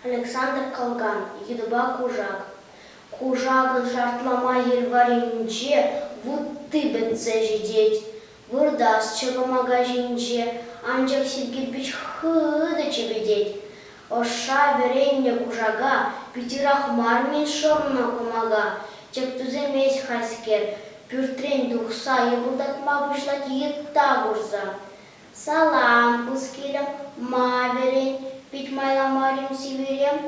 Александр Калган йытӑпа кушак. Кушакӑн шартлама хир варринче вутти пӗтсе ҫитет. Выртас чӑкӑмака ҫинче анчах сив кирпӗч хытӑ чӗпӗтет. Ӑшша вӗреннӗ кушака питӗрех мар-мӗн шӑрнӑ кӑмака. Тӗп тӳсемест хайскер, пӳртрен тухса йӑпӑлтатма пуҫлать йытта курса. Салам, пускилӗм, ма вӗрен? Пит майла мар-им сивӗрем?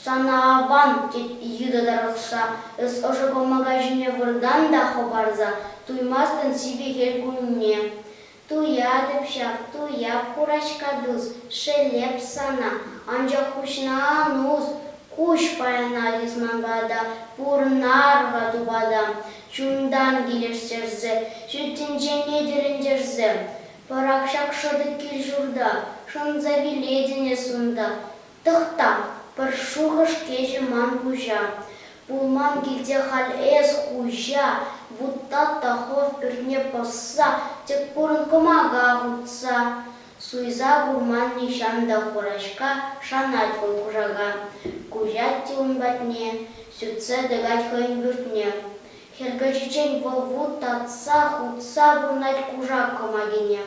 Сана аван, тет йытӑ тарӑхса, эс ӑшӑ кӑмака ҫине выртан та хӑпарса туймастӑн сивӗ хӗл кунне. Туятӑп ҫав, туяп, хураҫка тус, шеллеп сана, анчах куҫна ан ус, куҫ паянах эс ман пата, пурӑнар-ха тупата, чунтан килӗштерсе, ҫӳлтӗнчен етӗрӗнтерсе пӑрах ҫак шӑтӑк кил-ҫурта, шӑнса вилетӗн эс унта, Тӑхта, пӗр шухӑш кӗчӗ ман пуҫа. Пулман килте халь эс хуҫа, вутта та хов пӳртне пӑсса, тӗк курӑн кӑмака хутса. Суйса курман нихҫан та хураҫка, шанать вӑл кушака. Куҫать те ун патне, сӳтсе тӑкать хӑйӗн пӳртне. Хӗркӗчиччен вӑл вут татса хутса пурнать кушак кӑмакине.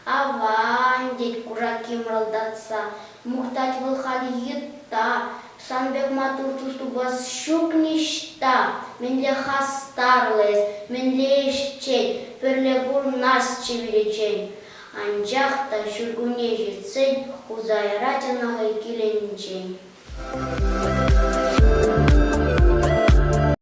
Аван, тет Кураки мӑрӑлтатса. Мухтать вӑл халь йытта. Сан пек маттур тус-тупас ҫук ниҫта. Мӗнле хастарлӑ эс, мӗнле ӗҫчен, пӗрле курӑнасчӗ виличчен. Анчах та ҫуркунне ҫитсен хуса ярать ӑна хӑй килӗнчен.